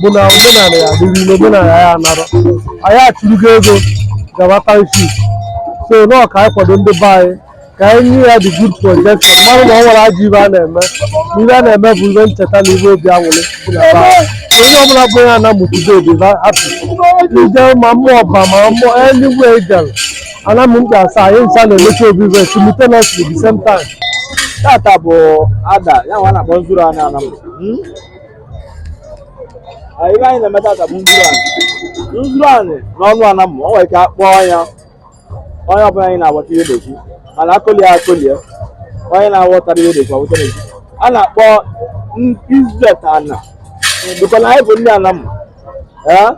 bụ na omenala ya dịrị ile omenala ya anara anyị achụrugo ego gaba township so nọọ ka anyị kwado ndị be anyị ka anyị nye ya the good projection mara na o nwerọ ajọ ive a na-eme na ive a na-eme bụ ive ncheta na ive obi aṅụrị dị na be anyị. onye ọbụla bụ onye anam tụdo obi ba hapụ ije ma ụmụọba ma mmụọ eluigwe ejel anam mkpu asaa anyị ncha na-emecha ovu ive simultaneously the same time tata bụ ada ya nwa a na-akpọ nzuru anị anam anyị ive anyị na-eme tata bụ nzuru anị nzuru anị n'ọnụ anam o nwere ike akpọọ ya onye ọbụla anyị na-agbata ihe na-ekwu mana akụli ya akụli ya onye na-aghọtara ihe na-ekwu aghọtara ekwu a na-akpọ izet ana bụkọ na anyị bụ ndị anam ee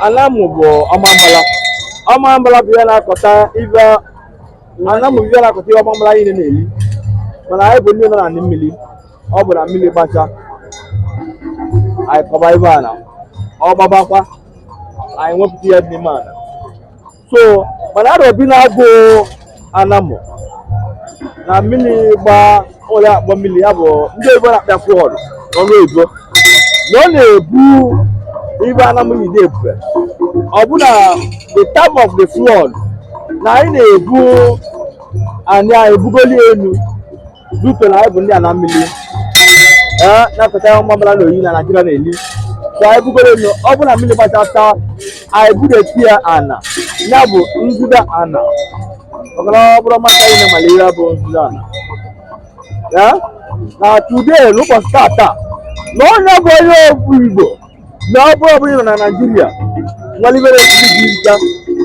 anam bụ ọmambala ọmambala bụ ihe na-akọta ive anam bụ ihe na-akọta ihe ọmambala niile na-eri mana anyị bụ ndị nọ n'anị mmili ọ bụ na mmili gbacha anyị kọba ive ana ọ gbabakwa anyị ewepụta ihe dị n'ime ana so mana arọ bi na-agụ anam na mmiri gba ụlọ akpọ mmiri ya bụ ndị oyibo na-akpọ ya flood n'ọnụ oyibo na ọ na-ebu ive anam yi na-ebube ọ bụ na the time of the flood na anyị na-ebu anyị anyị ebugoli enu due to na anyị bụ ndị ana mmiri ee na-akọta ọmambala na oyi na Naịjirịa na-eli ka anyị bugoro elu ọ bụrụ na mmili gbachata anyị budata ya ana ya bụ nzida ana maka na ọ bụrụ maka anyị na-amali ive bụ nzida ana ya na today n'ụbọchị tata na onye bụ onye okwu Igbo na ọ bụrụ ọbụla na naijiria nwalimere ndị dị nta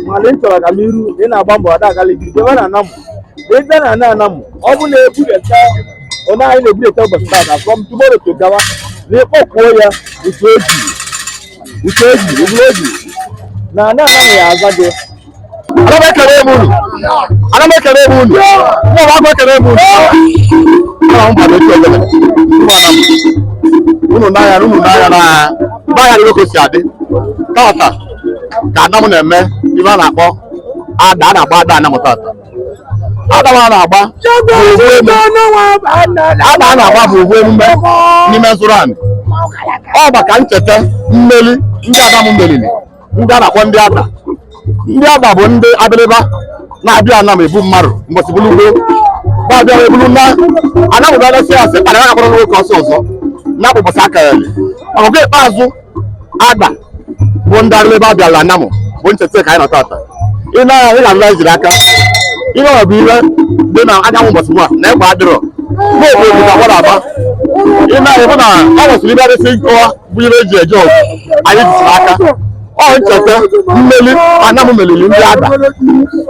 mana ị chọrọ agamniru ị na-agba mbọ ada agali gị debe na anam ị bịa na ana anam ọ bụ na ebudata onye anyị na-ebudata ụbọchị tata from tomorrow to gawa na ị kpọkuo ya uche eji uche eji eburu eji na ana anam ya aza gị anam ekenee m unu anam ekenee m unu nwa m akwa ekenee m unu anam bado etu ebele unu n'anya unu n'anya na n'anya dịrị ka o si adị tata ka anam na-eme ive a na-akpọ ada a na-agba ada anam tata ada nwa a na-agba bụ ovu eme ada a na-agba bụ ovu emume n'ime nzuru anị ọ bụ maka ncheta mmeli ndị anam melili ndị a na-akpọ ndị ada ndị ada bụ ndị abịrịba na-abịa anam ebu mmadụ mbọsị bụrụ ugbo na-abịa wee bụrụ na anam ba gasị asị kpara ya akpọrọ nwoke ọsọ ọzọ na akpụkpọsị aka ya ọgụ ikpeazụ ada bụ ndị abịrịba bịala anam bụ ncheta ka anyị nọ tata ị na-anya ị ga-abịa jiri aka ihe ọ bụ ihe dị na anyanwụ mbọsị nwa na egbe adịrọ na-ekwu ekwu ka mmadụ aba ị na-anya bụ na ọ nwesịrị ive adịsị nkọwa bụ ihe eji eje ọgụ anyị jisiri aka ọ ncheta mmeli anam meliri ndị ada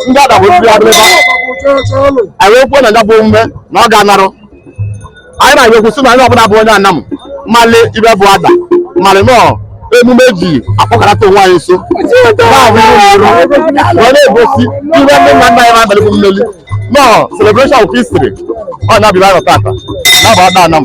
ndị ada bụ ndị adịrịba anyị wee kwuo na ya bụ omume na ọ ga-anarụ anyị na-agwa ekwu sị na onye ọbụla bụ onye anam malị ihe bụ ada malị na ọ emume ji akpọkọrọta onwe anyị nso na-abụ ihe onyonyo wee na-egosi ihe ndị nna nna anyị na-abalị bụ malị na ọ celebration of history ọ na-abịa anyị tata na-abụ ada anam